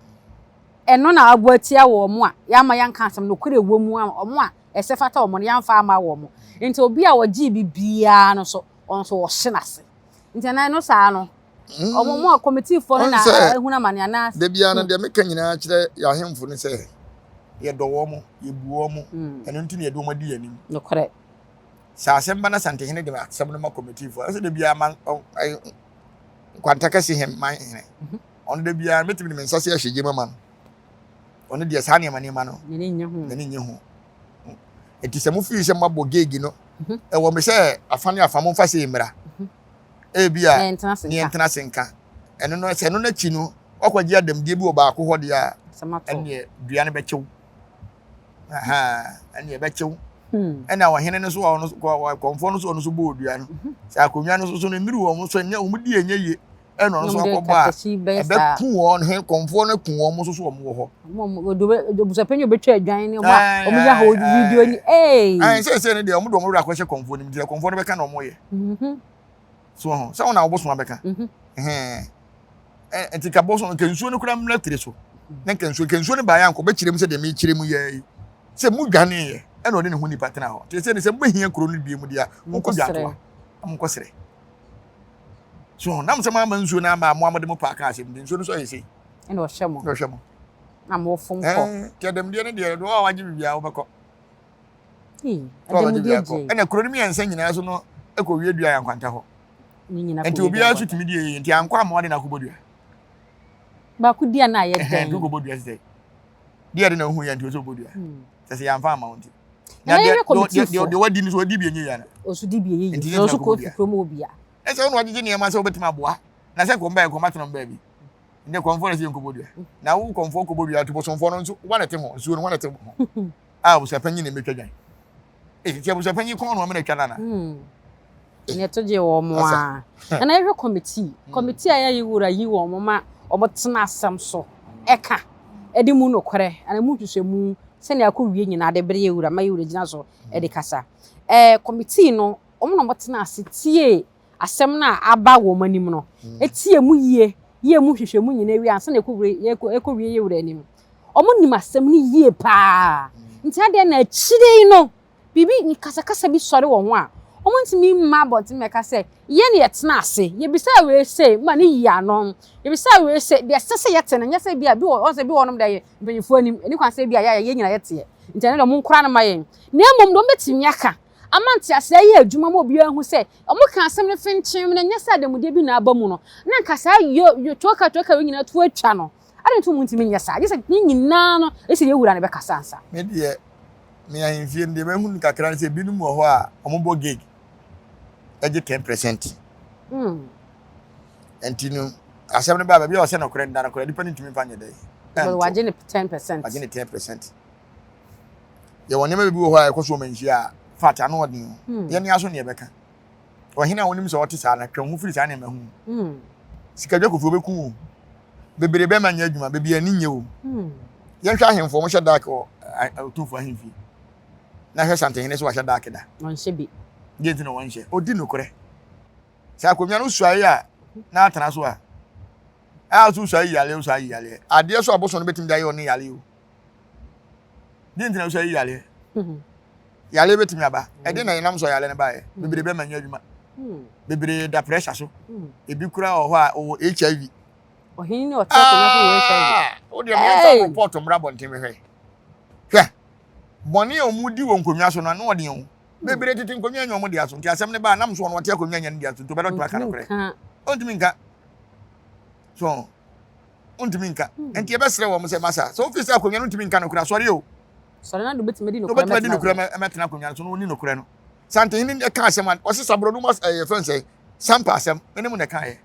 Ɛno na abo atia wɔn a yɛama yɛnka asɛm nokorɛ ɛwɔ mu ama wɔn a ɛsɛ fata wɔn no yɛamfa ama wɔn. Nti obi a ɔgyee biribiara no nso ɔno nso wɔhye no ase. Nti anaa ɛno saa no wɔn mu a kɔmitiifoɔ no na ahunu amane anaa. Da biara no deɛ meka nyinaa kyerɛ yɛn ahemfo no sɛ yɛdɔ wɔn, yɛbu wɔn, ɛno nti na yɛde wɔn adi yɛn anim. Nokorɛ. Sɛ asɛm ba na Asantehene de asɛm no ma kɔmitiifo a, ɛsɛ da biara ma nkwanta kɛse he ma hene. Mhm. Ɔno da biara mɛtumi de me nsa se ɛhwɛ gyema ma no. Ɔno deɛ saa nneɛma nneɛma no n'ani nye ho. Nti sɛ mofii sɛ moabɔ geegi no, mhm. ɛwɔ me sɛ afa ne afa momfa sei mmra. Mhm. Ebi a neɛ ntena se nka. Ɛno no sɛ ɛno no akyi no, wakɔgye adamdie bi wɔ baako hɔ deɛ a, ɛneɛ dua no bɛkyew. ɛne ɛbɛkyew ɛna ɔhene no so ɔno kɔmfoɔ no so ɔno so bɔ odua no mhm. sɛ akonnwa no so so no mmiri wɔn so ɛnyɛ wɔn di ɛnyɛ yie ɛna ɔno so akɔbɔ a ɛbɛku wɔn he kɔmfoɔ no ku wɔn so so wɔn wɔ hɔ. obusapɛnyi obetwa adwan ne ɔmo a ɔmo yɛ ahɔ video ni ee. ɛn sɛ ɛsɛ ne deɛ ɔmo de ɔmo wura akɔhyɛ kɔmfoɔ no mu nti kɔmfoɔ no bɛka na ɔmo yɛ. Mhm. so ho sɛ wona wobosom abɛka nti ka bosom nka nsuo no kora mmra tiri so na nka nsuo nka nsuo no baeɛ anka ɔbɛkyerɛ mu sɛ deɛ mekyerɛ mu yɛ yi sɛ mu dwaneeɛ ɛna ɔde ne ho nipa tena hɔ nti sɛ ne sɛ mobɛhia kuro no bie mu deɛ monkɔ dwatoa na monkɔ serɛ so nam sɛ moama nsuo no ama moa mode mo paa kaa asɛm nti nsuo no so ayɛ sei ɛna ɔhwɛ mo na ɔhwɛ mo na mofom kɔ kyɛ dɛm deɛ no deɛ doɔ a wagye biribiaa wobɛkɔ ɛna kuro no mmiɛnsa nyinaa so no ɛkɔ wie dua yɛ nkwanta hɔ nti obiara so tumi di yɛ nti ankɔ ama ɔde n'akobɔ dua baako dua no a yɛ dɛn ɛdu kɔbɔ dua sɛ deɛ de na ohu yɛ nti ɔsɛ ɔbɔ dua hmm. sɛ sɛ yɛamfa ama wo nti na deɛ wadi no so ɔdi bi enyi yɛ no ɔso di bi enyi yɛ nti ɔso kɔ fi kurom wɔ bia ɛsɛ ɔno ɔgyegye nneɛma sɛ ɔbɛtumi aboa na sɛ kɔmba yɛ kɔmba tena ɔmba bi ne kɔmfoɔ na sɛ yɛ nkɔbɔ dua hmm. na wo kɔmfoɔ kɔbɔ dua to bɔsɔmfoɔ no nso wane te ho nsuo no wane te ho a abusuapanyin na ɛbɛtwa dwan. Ee, nti abusuapanyin kɔn na ɔmo na ɛtwa no ana? Hmm. Na ɛto gye wɔn a. Ɛna yɛhwɛ kɔmitii. Hmm. Kɔmitii a yɛayɛ wura yi wɔn ma wɔn tena asɛm so ɛka ɛde mu nokorɛ ana mu nhwehwɛmu sɛnea akɔ wie nyinaa de bere yɛ wura ma yɛ wura gyina so ɛde kasa. Ɛɛ kɔmitii no wɔn na wɔtena ase tie asɛm no a aba wɔn anim no tie mu yie, yɛ emu nhwehwɛmu nyinaa wie ansa na ɛkɔwie yɛ wura anim. Wɔnim asɛm no yie paa. Nti adeɛ na akyire yi no, biribi kasakasa bi sɔre wɔn ho a, wɔntumi mma abɔnten mmɛka sɛ, yɛn na yɛtena ase, yɛbisaa wei sei ma no yii ano, yɛbisaa wei sei, deɛ ɛsɛ sɛ yɛte no nyɛ sɛ ebia, wɔn sɛ ebi wɔ hɔnom deɛ ɛyɛ mpanimfoɔ anim, ɛnni kwan sɛ ebia yɛn nyinaa yɛteɛ, nti ɛno deɛ monkora no mma yɛn. Na mmom deɛ wɔbɛtumi aka Ama nteaseɛ ayɛ adwuma ma obiara ahu sɛ wɔka asɛm no fenkyem na ɛnyɛ sɛ adanmudeɛ bi na aba mu no, na anka saa yotwokatwoka wei nyinaa to atwa no. Adɛn nti na wɔntumi nyɛ saa? Gye sɛ yɛn nyinaa no, gye sɛ yɛn Wura no bɛkasa ansa. Me deɛ, me ahemfie no, deɛ mahu no kakra ne sɛ binom wɔ hɔ a wɔbɔ gig gye ten percent. Ɛnti no, asɛm no baa baabi a ɔsɛ nokorɛ no da nokorɛ, nipa no ntumi mfa nyɛ dɛn nto. Wagye ne ten percent. Wagye ne ten percent. yɛwɔ nneɛma bi wɔ hɔ a ɛkɔ so wɔ manhyia a fat ano ɔden o hmm. yɛne aso ne yɛbɛka ɔhene a wonim sɛ ɔte saa na twɛn ho firi saa nneɛma ho hmm. sikadwa kofi wobɛku o bebree bɛma nyɛ adwuma bebi ani nyɛ o hmm. yɛnhwɛ ahemfo wɔn hyɛ dark wɔ otumfo ahemfi na hwɛ santehene so wahyɛ dark da wɔnhyɛ bi deɛ nti na wɔnhyɛ ɔdi nokorɛ sɛ akonnwa no suae a na atena so a a so suae yaleɛ suae yaleɛ adeɛ so abosom no bɛtumi de ayɛ ɔne yaleɛ o Dɛn nti na wosɔ yi yareɛ? Yareɛ bɛtumi aba. Ɛde na yɛnam sɔ yareɛ no baeɛ. Bebree bɛma nyɛ adwuma. Bebree da pressure so. Ebi kura wɔ hɔ a ɔwɔ HIV. Ɔhene ne ɔtɛ akonnwa so wɔ HIV. Wodeɛ meyɛmfa wo report mmra bɔnten mehwɛ. Hwɛ, bɔne a wɔn di wɔ nkonnwa so no ano ɔden o. Bebree tete nkonnwa nyɛ wɔn dea so. Nti asɛm no baa nam so wɔn ɔte akonnwa nyɛ ne dea so nti ɔbɛdɔ to aka no korɛ. Ɔntumi nka. So ntumi nka. Nti yɛbɛsrɛ wɔn sɛ masa. Sɛ wofi sɛ akonnwa no ntumi nka nokorɛ, sɔre o. Sɔre na de obetumi adi nokorɛ mɛtena. Obetumi adi nokorɛ mɛtena akonnwa no so na ɔni nokorɛ no. Santehene no ɛka asɛm a ɔsi saburo no mu ɛyɛ fɛn sɛ sampa asɛm. Mene mo na ɛka yɛ.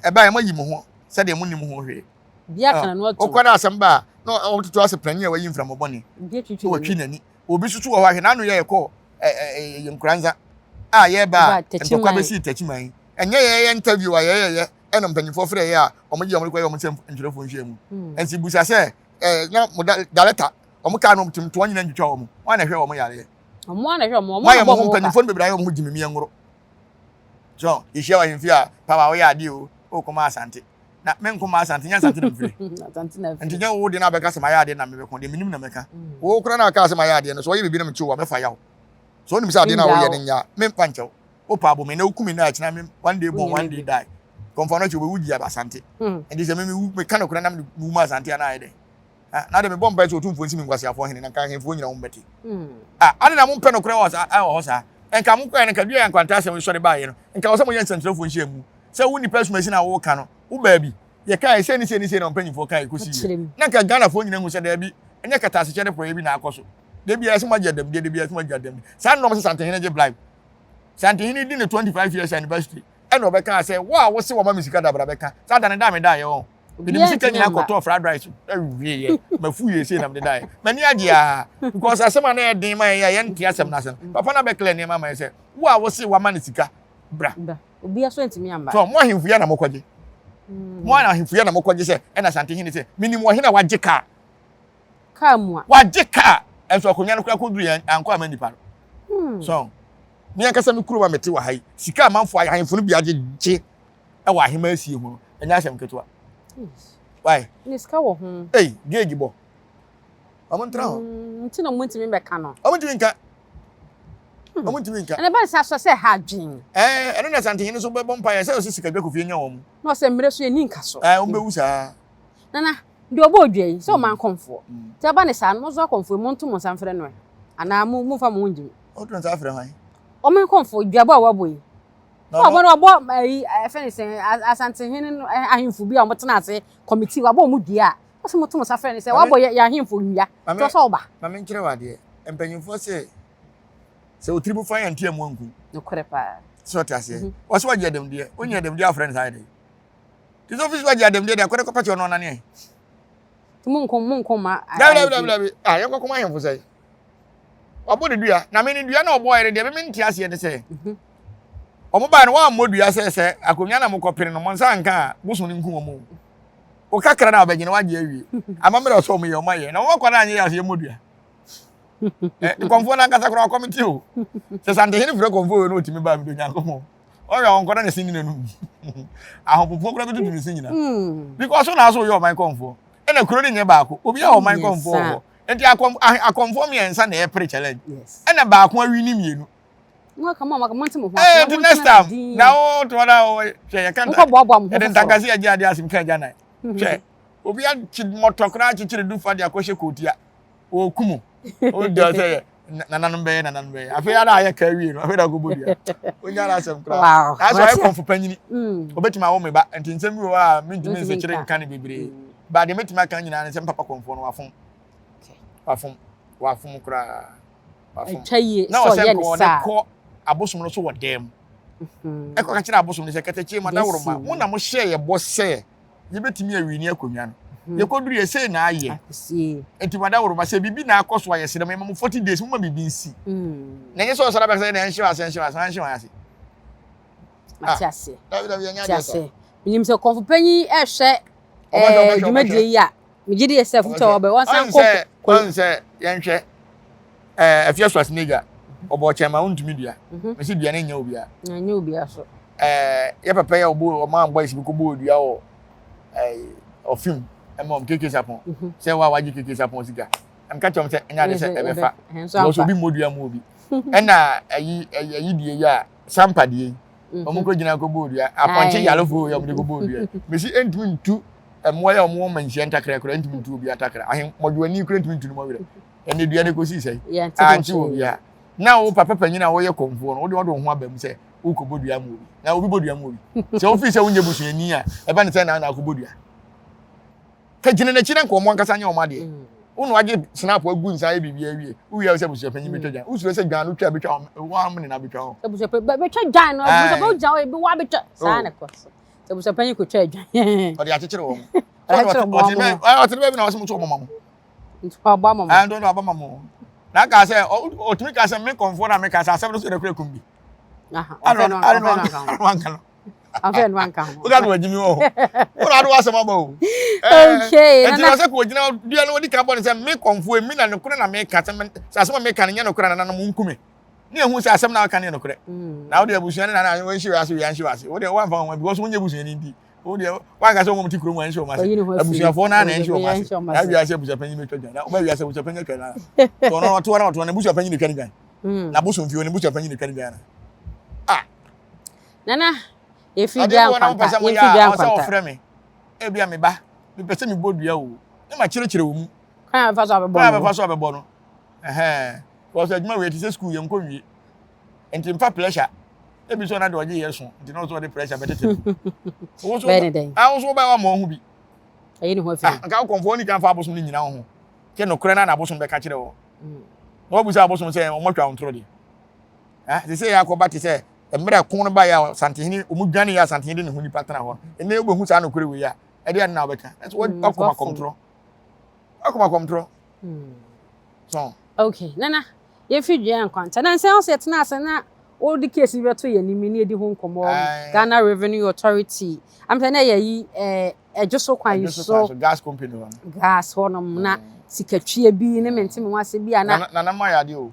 Ɛbaeɛ mo ayi mo ho sɛdeɛ mo nim ho hwee. Bia kana no ato. Okɔ na asɛm ba a na ɔtoto asɛ panyin a wayi mframa bɔne. Bia twitwi. Wɔtwi n'ani. Obi soso wɔ hɔ ahwɛ n'ano yɛ ɛkɔ ɛɛ nkoranza a yɛba a ntɔkwa bɛsi tɛkyiman. Ɛnyɛ yɛyɛ interview a yɛyɛyɛ ɛna mpanyinfoɔ frɛ yɛ a wɔn gye wɔn kɔ yɛ wɔn nsɛm ntwerɛfoɔ nhyia mu nti busa sɛ ɛɛ na mo da dalɛta wɔn kaa no tum toɔ nyina ntwitwa wɔn wɔn na ɛhwɛ wɔn yareɛ wɔn a na ɛhwɛ wɔn wɔn a wɔn ho mpanyinfoɔ no bebree ayɛ wɔn ho gyimi mmiɛ ngoro so yɛhyia wɔ ahemfie a papa woyɛ adeɛ o ɔkɔ ma asante na me nko ma asante nyɛ asante na mfiri nti nyɛ wo de na abɛka sɛ mayɛ adeɛ na mebɛko deɛ menim na mɛka wo kora na aka sɛ mayɛ adeɛ no so ɔyɛ biribi na mekyi wo a mɛfa yaw so wonim sɛ adeɛ no a woyɛ no nya memfa nkyɛw wopa abɔ me na woku me na akyena me one day born one day die kɔmfa no kyɛ wobɛwu gyi aba asante hmm. ɛnti sɛ memewu meka nokorɛ na mewu ma asante a na ayɛ dɛ ah, na de mebɔ mpae sɛ ɔtumfoɔ nsi me nkwaseafoɔ hene na nka ahemfoɔ nyina wombɛte hmm. ah, ade na mompɛ nokorɛ wɔ hɔ saa nka mokɔɛ no nka dua yɛ nkwanta asɛm sɔre baeɛ no nka wɔ sɛ moyɛ nsɛmkyerɛfoɔ nhyia mu sɛ wo nnipa asumasi na woka no wo baabi yɛkae sɛ ne sɛ ne sɛ na mpanyimfoɔ kae kɔsi yɛ na nka ghanafoɔ nyina hu sɛ daabi ɛnyɛ katasekyɛ de pɔyɛ bi na akɔ so da biara sɛ moagye adamdeɛ da biara sɛ moagye adamdeɛ saa nnɔm sɛ santehene gye blibe Santehene di ne 25 years anniversary ɛna ɔbɛka sɛ wo a wose wɔma me sika dabra bɛka saa da ne da meda yɛ wɔn mede me sika nyina kɔtɔɔ fried rice awie yɛ mafu yɛ sei na mede da yɛ m'ani agye a because asɛm a na yɛ den ma yɛ yɛ nte asɛm no asɛm mm. papa na bɛklɛ nneɛma ma yɛ sɛ wo a wose wɔama ne sika bra obi aso ntumi amba so mo ahemfo yɛ na mokɔgye mm. mo ahemfo yɛ na mokɔgye sɛ ɛna santehene sɛ menim wɔhene a wagye kaa car mu a. Wagye car nso akonwa no koraa kɔ duru yɛn ankɔ ama nipa no so me ankasa me kurom a mete wɔ ha yi sika amanfo ahemfo no bi agye gye ɛwɔ ahema asie ho no ɛnyɛ asɛm ketewa why ne sika wɔ ho ei gauge bɔ ɔmo ntra ho hmm, nti na ɔmo ntumi bɛka no ɔmo ntumi nka hmm. ɔmo ntumi nka ɛna bɛn sɛ asɔ sɛ ha adwen ɛɛ ɛno na santenyini nso bɛbɔ mpa yɛ sɛ ɔsi sika dwa kofie nya wɔn na ɔsɛ mmerɛ so yɛ ni nka so ɛɛ ɔmo bɛwu saa nana deɛ ɔbɔ odwa yi sɛ ɔma mm. nkɔmfoɔ mm. nti ɛba ne saa no monso akɔmfoɔ mu nto mo nsa mfrɛ no ɛ anaa mo momfa mo ho ngye mu ɔto nsa frɛ hwan ɔma nkɔmfoɔ dwabɔ a wɔabɔ yi ɔbɔ no ɔbɔ ayi ɛfɛ ne sɛ asantehene no ahemfo bi a wɔtena ase kɔmiti wabɔ wɔn dua a wɔsɛ mo to mo nsa frɛ ne sɛ wabɔ yɛ ahemfo nnua tɔ sɛ ɔba maame nkyerɛ wɔ adeɛ mpanyinfoɔ sɛ sɛ otiri bu fa yɛn ntia mu nku nokorɛ paa sɛ ɔte aseɛ wɔsɛ wɔgye ɛdɛm deɛ wonya ɛdɛm deɛ afrɛ ne saa yɛ dɛ Kristo ofisi ba gye adamdeɛ de akɔda kɔpɛte ɔno ɔnane ɛ. Ti mo nko mo nko ma. Dabi dabi dabi dabi ah yɛn kɔkɔm ahemfo sɛ wabɔ ne dua na me ne dua na ɔbɔɔ yɛ ne deɛ me nte aseɛ ne sɛ mhm. wɔn baa no wɔn ammɔ dua sɛ sɛ akonnwa na mokɔ pere no mo nsa nka a bosom ne nku wɔn o o kakra na ɔbɛgyina wagye awie amammerɛ ɔsɔ wɔn yɛ wɔn ayɛ na wɔn akɔ na anyɛ yɛ aseɛ mmɔ dua ɛ kɔmfoɔ no ankasa koraa ɔkɔm ti o sɛ santehene frɛ kɔmfoɔ wei na ɔtumi baa mi do nyankopɔn ɔyɛ ɔnkɔ na ne se nyina no ahopopoɔ kora bɛtutu ne se nyina hmm. because so na so yɛ ɔman kɔmfoɔ ɛna kuro no nyɛ baako obi a ɔman kɔmfoɔ wɔ hɔ nti akɔmfoɔ mmiɛnsa na ɛpere challenge ɛna baako awi ne mmienu ɛnti next time na wo toɔ na wo hwɛ yɛ kanta ɛde ntakase agye adeɛ asem ka agya nan hwɛ obi akyi mmɔtɔ koraa akyekyere du fa de akɔhyɛ kootia ɔɔku mu ɔgya sɛ yɛ nananom bɛyɛ nananom bɛyɛ afei ara ayɛ ka awie no afei na ɔkɔbɔ dua ɔnya no asɛm koraa nanso ayɛ kɔmfo panyini ɔbɛtumi awo me ba nti nsɛm bi wɔ hɔ a mentumi nsekyere nka no bebree ba deɛ mɛtumi aka nyinaa ne sɛ mpapa kɔmfoɔ no wafom wafom wafom koraa wafom na ɔsɛ nkɔ ɔde kɔ abosom no so wɔ dɛm ɛkɔ ka kyerɛ abosom no sɛ kɛtɛkyie ma daworo ma mo na mohyɛ yɛ bɔ sɛ yɛbɛtumi awini akonnwa no mhm. yɛkɔduru yɛ sei na ayɛ nti wada woroma sɛ biribi na akɔ so a yɛserɛ m ɛma mo 40 days moma biribi nsi mm. na ɛnyɛ sɛ ɔsra bɛsɛ na ɛnhyew ase ɛnhyew ase ɛnhyew ase mate ah. ase mate ase menim sɛ kɔmfo panyin ɛhwɛ eh, dwumadie yi a Megye di sɛ afutu a wɔbɛ wɔnsan kɔ kɔ. Ɔn sɛ yɛnhwɛ ɛɛ ɛfiɛ so asenegya ɔbɔ ɔkyɛn ma ɔntumi dua. Mhm. Mesi dua ne nyɛ obia. Na nyɛ obia so. Ɛɛ yɛ pɛpɛ yɛ ɔbɔ ɔmo ambɔ esi bi kɔ bɔ odua wɔ ɛɛ ɔfim ɛma ɔmo keke sapɔn. Mhm. Sɛ wa wagye keke sapɔn sika. Ɛm ka kyɛm sɛ ɛnyɛ ade sɛ ɛbɛfa. Wɔsɔ obi mmɔ dua mu obi. Ɛna ɛyi ɛyi die yi a sampa die yi. wɔn mhm. kɔ gyina kɔ bɔɔ dua apɔnkye yarefo yɛ wɔn de kɔ bɔɔ dua mesi ntumi ntu mmoa yɛ wɔn wɔn manhyia ntakra kura ntumi ntu obi atakra ahen mɔdwo ani kura ntumi ntu ne mɔwerɛ ɛnna dua ne kɔsi sɛ ankye wɔ bia na wo papa panyin a wɔyɛ kɔnfoɔ no wode wɔde wɔn ho aba mu sɛ wokɔ bɔ dua mu obi na obi bɔ dua mu obi sɛ wofiri sɛ wonyɛ busuani a ɛba ne sɛ na na akɔ bɔ dua Fa gyina n'akyi na nka wɔn ankasa nyɛ wɔn adeɛ. Wo na wagye snap agu nsa ayɛ biribi awie. Wowie a sɛ abusuapanyin bɛtwa gyan. Wosuro sɛ gyan no twa bɛtwa wɔn wɔn amene na abɛtwa hɔ. Abusuapanyin bɛtwa gyan no abusuapanyin wogyina hɔ ebi wabɛtwa saa na ɛkɔ so. Sɛ abusuapanyin kɔtwa gyan. Ɔde akyekyere wɔn. Ɔtene baabi na ɔsɛ mo nso ɔbɔ ma mo. Nti ɔbɔ ama mo. Ɛn dɔdɔ ɔbɔ ma mo. Na aka sɛ ɔtumi ka sɛ me kɔnfoɔ na meka sɛ asɛm no so yɛ dɛ kura kum bi. Aha ɔbɛ no ɔbɛ no aka ho. afɛn wa nka ho. Oga no adimi wo. Wo na ado asem aba o. Okay. Eh, na se ko gina dua no odi ka bɔ ne se me konfo emi na ne kure na me ka se se asem me ka ne nya ne kure na na mo nkume. Ne ehu se asem na ka ne ne kure. Mm. Na wo de abusua ne na na wo nshi ase wi anshi ase. Wo de wo anfa ho because wo nye abusua ni ndi. Wo de wa ka se wo mo ti kuro mu anshi o ma se. Abusua fo na na anshi o ma se. Na wi ase abusua panyin me twa dwan. Na wo ba wi ase abusua panyin twa na. To no to na to na abusua panyin twa dwan. Mm. Na bosom fie ne abusua panyin twa dwan na. Nana, yɛfiri dwaa nkwanta. Adeɛ bi wɔ na wopɛ sɛ moyɛ a, ɔsɛ wɔfrɛ me. Ebi a me ba, mepɛ sɛ mebɔ dua o. Ne ma kyerɛkyerɛ wɔ mu. Kwan a bɛfa so abɛbɔ no. Kwan a bɛfa so abɛbɔ no. Because adwuma wei te sɛ school yɛn nkɔ wie. Nti mfa pressure. Ebi sɛ ɔna de ɔgye yɛ so. Nti na ɔsɛ ɔde pressure bɛtete no. Bɛyɛ ne dɛn? Awo so wobɛyɛ ama ɔho bi. Ayi ne ho afiri. Nka wo kɔmfoɔ ne kan fa abosom ne nyina wo ho. Sɛ nokorɛ na na abosom bɛka kyerɛ wɔ. Na wabu sɛ abosom sɛ ɔmɔtwa wo ntoro deɛ. Sɛ sɛ yɛ akɔba te sɛ mmerɛ ko no baeɛ a Asantehene, wɔn dwaneeɛ a Asantehene de ne ho nipa tena hɔ no, ɛnɛ wobɛhu saa nokorɛ wei a, ɛdeɛ ade na wobɛka. Nanso wa- Mm, wakoma wafom. kɔmtorɔ. Wakoma kɔmtorɔ. Mm. So, Okay, Nana, yɛfi dua nkwanta. Na nsɛm sɛ yɛtena ase na wode case bi bɛto yɛn anim ne yɛdi ho nkɔmmɔ wɔ Aye. Ghana Revenue Authority. Am sɛ na yɛyi eh, ɛdwo so kwan ɛdwo so kwan so so gas company hɔ no. gas hɔnom na Mm. sikatwie bi ne mente me ho ase bi a na Nana- Nana ma yɛ adeɛ o.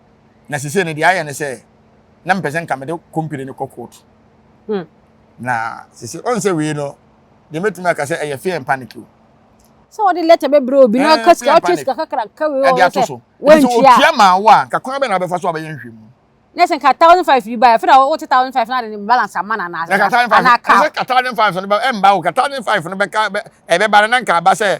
na sese no deɛ ayɛ ne sɛ na mepɛ sɛ nka mede kompire no kɔ court hmm. na sese ɔn sɛ wei no deɛ mɛtumi aka sɛ ɛyɛ fear and panic o sɛ wɔde lɛtɛ bɛbrɛ obi na ɔka sika ɔtwe sika kakra ka wei ɔwɔ sɛ wɔntua ɔtua maa wo a kakwan bɛ na abɛfa so abɛyɛ nhwɛ mu ne sɛ nka thousand five yi ba yɛ fɛnɛ wote thousand five na de ne balance ama na anaasɛ ana ka ɛsɛ ka thousand five no ɛmba wo ka thousand five no bɛka ɛbɛba no na nka aba sɛ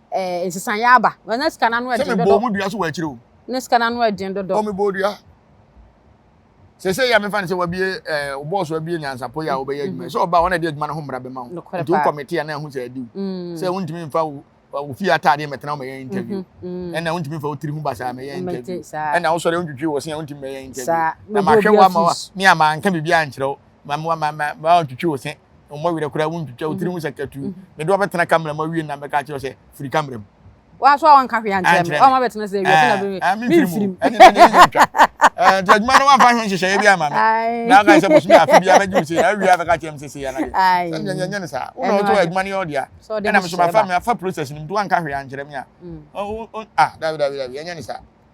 ɛɛ nsesaeɛ aba na na sika no ano ɛden dodo. sɛ mebɔɔ mu dua so wɔ akyire o. na sika no ano ɛden dodo. o mebɔɔ dua sese yi a mefa ne sɛ wabie ɛɛ eh, bɔɔso abie nyansapɔ yi a wɔbɛyɛ adwuma sɛ ɔbaa wɔn a ɛde adwuma no ho mmara bɛma wo nti wokɔ mete a na ɛho sɛ adiw mm. sɛ wontumi mfa wo ofie ataadeɛ mɛtena wɔmɛyɛ mm-hmm. interview mm. ɛna wontumi mfa wotiri ho basa mɛyɛ interview ɛna wosɔre wontwitwi wɔ se a wontumi mɛyɛ interview na mahwɛ wo ama wa me a manka biribi ankyerɛ wo ma ma ma ma ma ntwitwi wo se mmɔ werɛ koraa wontwitwa wo tiri ho sɛ katu mede wɔbɛtena kamera mu awie na mɛka kyerɛ sɛ firi kamera mu waso a wanka hwee ankyerɛ me ɔma bɛtena sɛ awia na bɛmɛ memfiri mu ɛne ne ne ntwa nti adwuma no wamfa ho nhyehyɛeɛ bi ama me na ɔka sɛ bosome afe bia mɛgye wo sɛ awia bɛka kyerɛ me sɛ sei anade sɛdeɛ nyɛnyɛ no saa wona ɔtɔ adwuma no yɛ ɔdea ɛna me so mafa me afa process no mu nti wanka hwee ankyerɛ me a dabi dabi dabi ɛnyɛ ne saa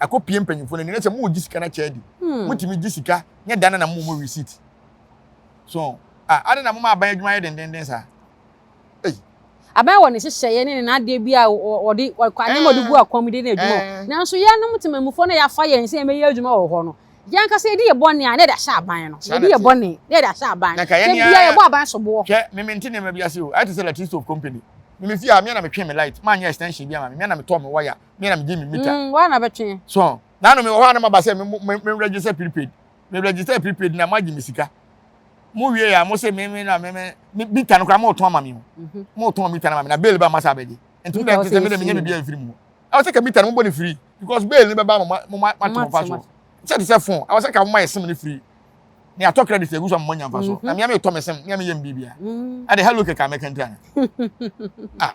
ɛkɔ pie mpanyinfoɔ n'ani na sɛ mo gye sika na kyɛ adi hmm. mo tumi gye sika nyɛ dan na mo mo receipt so a adi na mo ma aban adwuma yɛ dendenden saa eyi. aban wɔ ne hyehyɛeɛ ne ne n'adeɛ bi a wɔde kwane ma ɔde gu akɔm de ne adwuma eh. nanso yɛnom temamufoɔ na yɛafa yɛn sɛ yɛbɛyɛ adwuma wɔ hɔ no yɛn kasa yɛde yɛ bɔne a na yɛde ahyɛ aban no yɛde yɛ bɔne na yɛde ahyɛ aban no bia yɛbɔ aban so boɔ. hwɛ mímí nti nneɛma bi ase o ayɛ te sɛ latino stove company mímí fi ha mmea na metwe me light maa nyɛ extension bi ama me mmea na metɔ me waya me na me gye me mita. Mm, wa na bɛtwe. So, na no me wɔ hɔ a na maba sɛ me register prepaid. Me register prepaid na magye me sika. Mo wie ya mo se me me na me me mita no kora mo tɔn ama me ho. Mhm. Mo tɔn mita na ma me na bail ba ma sa bɛgye. Nti me sɛ me de me nya bibia mfiri mu. Ɛwɔ sɛ ka mita no mo bɔ ne free because bail ne bɛba mo ma mo ma to mo fa so. Sɛ te sɛ phone, ɛwɔ sɛ ka mo ma yɛ sim ne free. Ne atɔ credit egu so mo nya fa so. Mhm. Na me me tɔ me sim, me me yɛ mbibia. Mhm. Ade hello keka me kentana. Ah.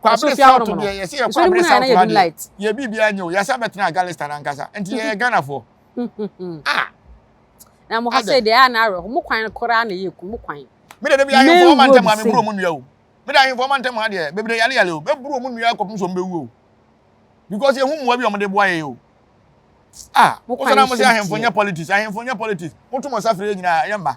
Kwabere South no deɛ yɛsɛ yɛ Kwabere South no adeɛ yɛ biribiara nyɛ o yɛsɛ bɛtena Agalista no ankasa nti yɛyɛ Ghanafoɔ ah na mo ha sɛ deɛ a na awerɛho mo kwan koraa na yɛ ku mo kwan me de bi ahemfo ɔma ntɛm a meburu ɔmo nnua o me de ahemfo ɔma ntɛm ha deɛ bebree yale yale o meburu ɔmo nnua kɔpem so mbɛwu o because yɛhu mmoa bi ɔmo de boa yɛ o ah wosɛ na mo sɛ ahemfo nyɛ politics ahemfo nyɛ politics woto mo nsa frɛ yɛ nyinaa yɛ mma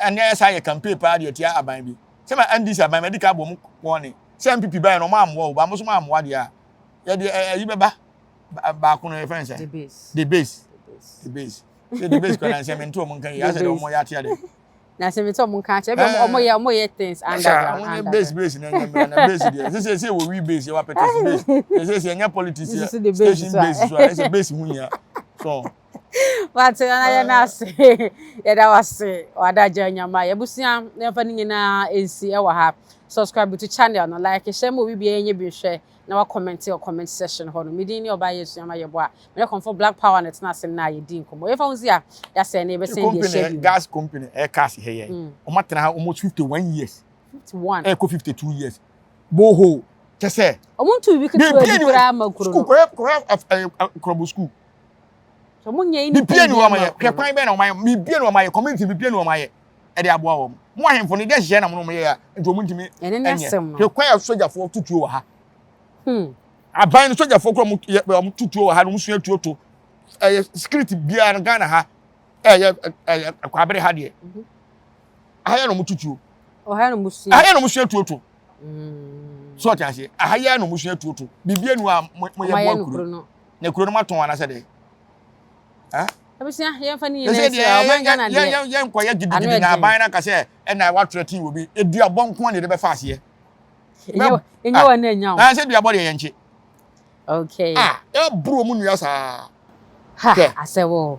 ɛnɛ yɛ saa yɛ campaign paa deɛ tia aban bi sɛ ma NDC aban ma ɛdi ka bom wɔne sɛ MPP baɛ no ɔmo ammoa o ba mo so mo ammoa deɛ a yɛde ɛyi bɛba baako no yɛfrɛ sɛ debase debase sɛ debase kora na nsɛ mente ɔmo nka yi asɛ deɛ ɔmo yɛ atea dɛ na sɛ mente ɔmo nka akyɛ ɛbɛ ɔmo yɛ ɔmo yɛ things underground underground base base na ɛnyɛ mmira na base deɛ sɛ sɛ wɔ wi base yɛ wɔ apɛtɛsi base sɛ sɛ ɛnyɛ politics yɛ station base so a ɛsɛ base ho nyia so Wate na yɛ n'ase. Yɛda wase. Wada gya nyama. Yɛbusua na yɛmfa ne nyinaa nsi ɛwɔ ha. Subscribe to channel no, like, hyɛ ma obi biara nyɛ bi nhwɛ na wa comment wɔ comment section hɔ no. Me din ne ɔbaa yɛ sua ma yɛ boa. Me ne kɔmfo Black Power na ɛtena ase na yɛdi nkɔmmɔ. Yɛmfa ho si a, yɛasɛn na yɛbɛsɛn deɛ ɛhyɛ bi mu. Gas company ɛyɛ cars hɛ yɛ. Wɔn atena ha almost 51 years. 51. Ɛkɔ 52 years. Borehole kyɛ sɛ. Wɔn ntu bibi ketewa bi koraa ma kuro no. School kɔyɛ kɔyɛ ɛɛ nkorɔbo school. mebie ne wɔn ayɛ hwɛ kwan bɛn na wɔn ayɛ mebie ne wɔn ayɛ community mebie ne wɔn ayɛ ɛde aboa wɔn mo ahemfo no de hyehyɛ na mo no mo yɛ a nti wɔn ntumi ɛnyɛ hwɛ kwan a sogyafoɔ tutuo wɔ ha hmm. aban no sogyafoɔ kura wɔn tutuo wɔ ha na wɔn sua tuo to ɛyɛ security biara no ghana ha ɛyɛ ɛyɛ kwabere ha deɛ mhm. aha yɛ na wɔn tutuo aha yɛ na wɔn sua tuo to hmm. so ɔte aseɛ aha yɛ na wɔn sua tuo to biribi enu a mo yɛ bɔ akuru. Na kuro no ma tɔn anasɛ dɛ. Ah. Abusua yɛn fa ni yɛn ɛsɛ ɛsɛ ɔman Ghana deɛ. Yɛn yɛn nkɔ yɛ gidigidi na aban na kasɛ ɛna wa tura tii wɔ bi edu abɔ nko ne de bɛ fa aseɛ. Enye wa na enya o. Na sɛ du abɔ deɛ yɛn kye. Okay. Ah ɛburo mu nua saa. Ha asɛ wɔ.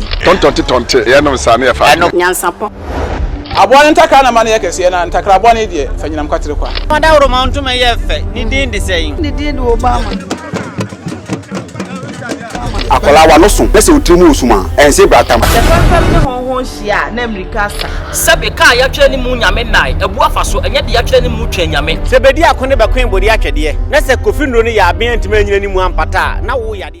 yɛ. Tɔntɔnte tɔnte yɛ nom saa na yɛ fa adwene. Nyansapɔ. Aboa no ntakra na ma no yɛ kɛseɛ na ntakraboa no deɛ fa nyinam kwatere kwa. Fa dawuroma ntoma yɛ fɛ ne din de sɛn. Ne din de Obama. Akwadaa w'ano so na sɛ wo tiri mu wɔ sum a, ɛnse bra tam. Sɛ fɛmfɛm ne hɔnhɔn hyia a na mmirika asa. Sɛbe kaa yɛatwerɛ ne mu nyame nnae abu afa so, ɛnyɛ deɛ yɛatwerɛ ne mu twɛn nyame. Sɛ bedi ako ne bɛkoe bɔdi atwɛdeɛ, na sɛ Kofi Nnuro no yɛ aben antumi anyina ne mu ampata a, na wo yadeɛ.